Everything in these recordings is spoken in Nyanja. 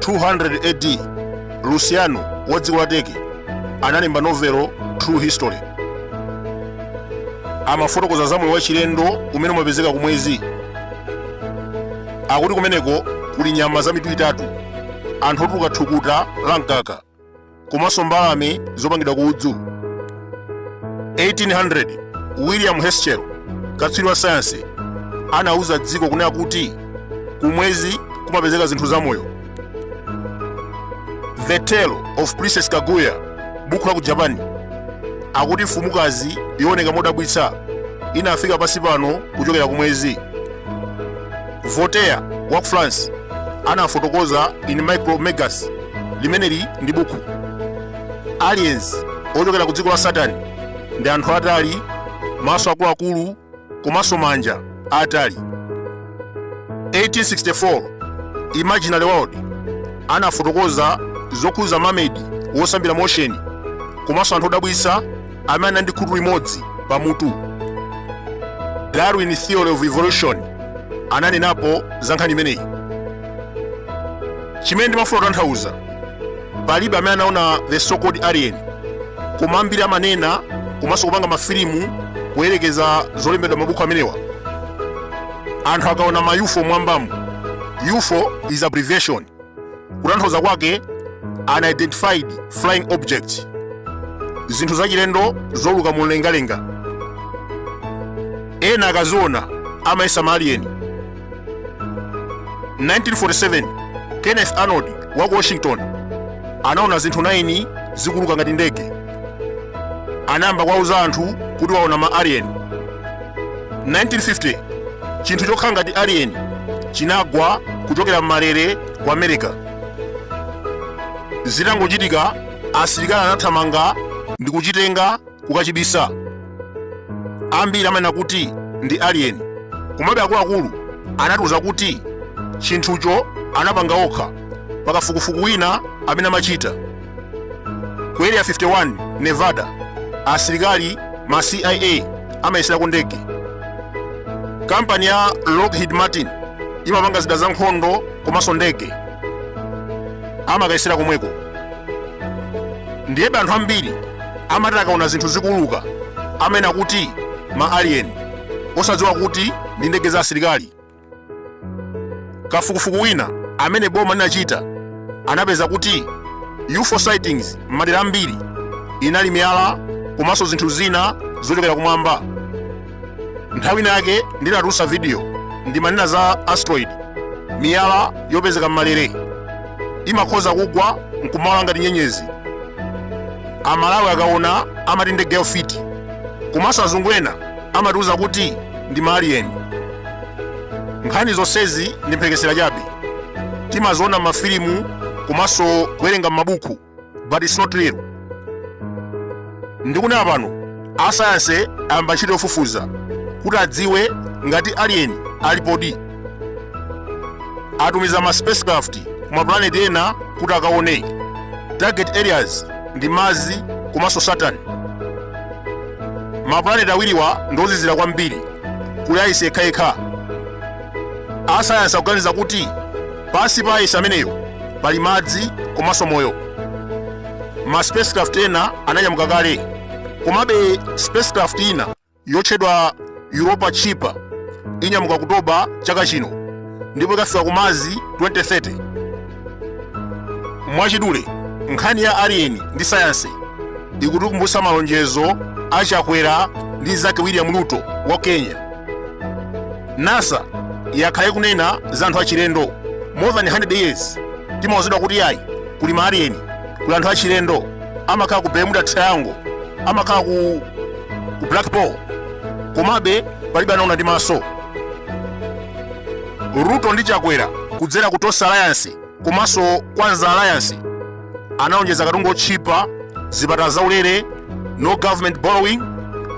200 AD, Lucian wa dziko la Turkey analemba novelo True History. Amafotokoza za moyo wachilendo umene umapezeka kumwezi akuti kumeneko kuli nyama za mitu itatu anthu otuluka thukuta la mkaka komanso mbalame zopangidwa ku udzu 1800 william herschel katswiri wa sayansi anauza dziko kunena kuti kumwezi kumapezeka zinthu zamoyo the tale of princess kaguya buku la ku japan akuti mfumukazi yooneka modabwitsa inafika pansi pano kuchokera kumwezi voltaire wa ku france anafotokoza in micromegas limeneli ndi buku aliens ochokera ku dziko la saturn ndi anthu atali maso akuluakulu komanso manja atali 1864 imaginary world anafotokoza zokhudza mamedi wosambira mu ocean komanso anthu odabwitsa amene anali ndi khutu limodzi pamutu darwin theory of evolution ananenapo za nkhani imeneyi chimene ndimafuna kutanthauza palibe amene anaona the so called alien koma ambiri amanena komanso kupanga mafilimu poyerekeza zolembedwa m'mabuku amenewa anthu akaona ma ufo m'mwambamu ufo is abbreviation kutanthauza kwake unidentified flying object zinthu zachilendo zouluka mumlengalenga ena akaziona amayesa ma alien 1947 kenneth arnold wa ku washington anaona zinthu 9 zikuuluka ngati ndege anayamba kuwauza anthu kuti waona ma alien 1950 chinthu chokhala ngati alien chinagwa kuchokera m'malere ku america zitangochitika asilikali anathamanga ndi kuchitenga kukachibisa ambiri amanena kuti ndi alien komabe akuluakulu anatiuza kuti chinthucho anapanga okha pakafukufuku wina amene amachita Ku Area 51, Nevada, asilikali ma CIA amayeserako ndege. Kampani ya Lockheed Martin imapanga zida za nkhondo komanso ndege amakayesera komweko. Ndiyebe anthu ambiri amati akaona zinthu zikuuluka amanena kuti ma alien osadziwa kuti ndi ndege za asilikali. kafukufuku wina amene boma linachita anapeza kuti UFO sightings m'madera ambiri inali miyala komanso zinthu zina zochokera kumwamba nthawi inayake ndinatulutsa video ndimanena za asteroid miyala yopezeka m'malere imakhoza kugwa nkumawala ngati nyenyezi amalawi akaona amati ndege yofiti komanso azungu ena amatiuza kuti ndi maaliyeni nkhani zonsezi ndi mphekesera chabe timaziona m'mafilimu komanso kuwerenga m'mabuku but it's not real ndikunena pano asayansi ayamba ntchito yofufuza kuti adziwe ngati aliyeni alipodi atumiza ma spacecraft ku maplaneti ena kuti akaone target areas ndi Mars komanso saturn maplaneti awiriwa ndiozizira kwambiri kuli aisi yekhayekha asayansi akuganiza kuti pansi pa aisi ameneyo pali madzi komanso moyo ma spacecraft ena ananyamuka kale komabe spacecraft ina yotchedwa Europa Chipa inyamuka Okutobala chaka chino ndipo ikafika ku Mars 2030 mwachidule nkhani ya alien ndi sayansi ikutikumbutsa malonjezo a chakwera ndi nzake william ruto wa kenya nasa yakhala ikunena za anthu achilendo more than 100 years timauzidwa kuti ayi kuli ma alien kuli anthu achilendo amakhala ku bermuda triangle amakhala ku ku black ball komabe palibe anaona ndi maso ruto ndi chakwera kudzera ku tonse alliance komanso kwanza alliance analonjeza katundu wotchipa zipatala zaulere no government borrowing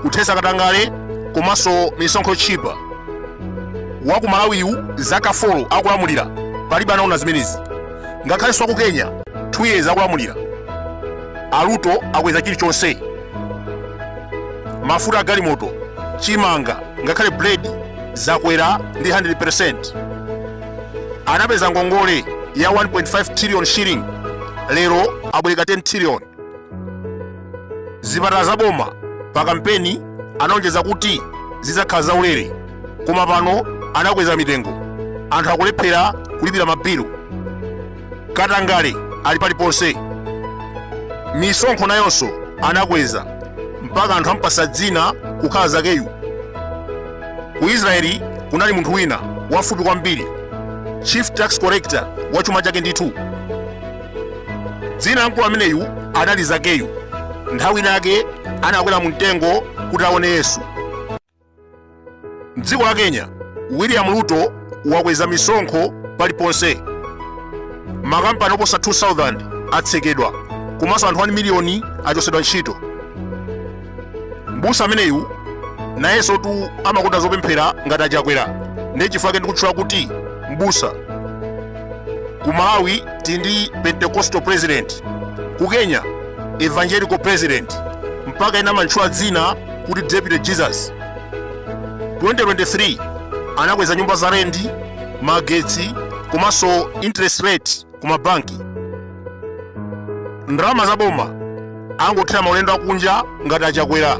kuthetsa katangale komanso misonkho yotchipa wa ku malawiyu zaka 4 akulamulira palibe anaona zimenezi ngakhalenso wa ku kenya 2 years akulamulira aruto akweza chilichonse mafuta agalimoto chimanga ngakhale buledi zakwera ndi 100% anapeza ngongole ya 1.5 trillion shilling lero abwereka 10 trillion zipatala za boma pa kampeni analonjeza kuti zidzakhala zaulere koma pano anakweza mitengo anthu akulephera kulipira mabilu katangale ali paliponse misonkho nayonso anakweza mpaka anthu ampatsa dzina kukhala zakeyu ku israeli kunali munthu wina wafupi kwambiri chief tax collector wa chuma chake ndithu dzina la mkulu ameneyu anali zakeyu nthawi inayake anakwera mu mtengo kuti aone yesu Mdziko la Kenya, William Ruto wakweza misonkho paliponse. Makampani oposa 2000 atsekedwa komanso anthu 1 miliyoni achotsedwa ntchito. Mbusa ameneyu nayensotu amakonda zopemphera ngati a Chakwera ndi chifukwa ndikutchula kuti mbusa ku malawi tili ndi pentecostal president ku kenya evangelical president mpaka ena amantchula dzina kuti deputy jesus 2023 anakweza nyumba za rendi magetsi komanso interest rate ku mabanki ndalama za boma angothera maulendo akunja ngati a Chakwera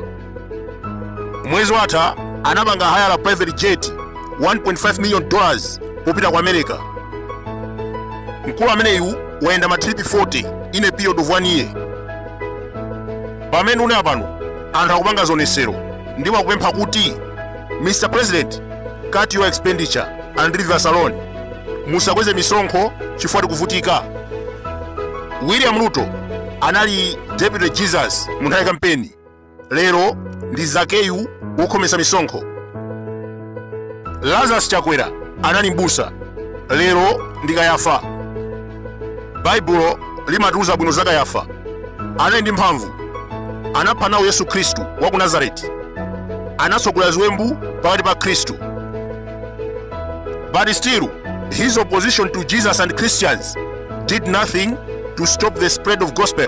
mwezi watha anapanga haya la private jet 1.5 million dollars popita ku america mkulu ameneyu wayenda matripi 40 in a period of one year pamene ndikunena pano anthu akupanga zionetsero ndipo akupempha kuti mr president cut your expenditure and leave us alone musakweze misonkho chifukwa tikuvutika william ruto anali deputy jesus mu nthawi ya kampeni lero ndi zakeyu wokhometsa misonkho lazarus chakwera anali mbusa lero ndi kayafa baibulo limatiuza bwino za kayafa anali ndi mphamvu anapha nawo yesu khristu wa ku nazareti anatsogolera ziwembu pakati pa akhristu but still his opposition to jesus and christians did nothing to stop the spread of gospel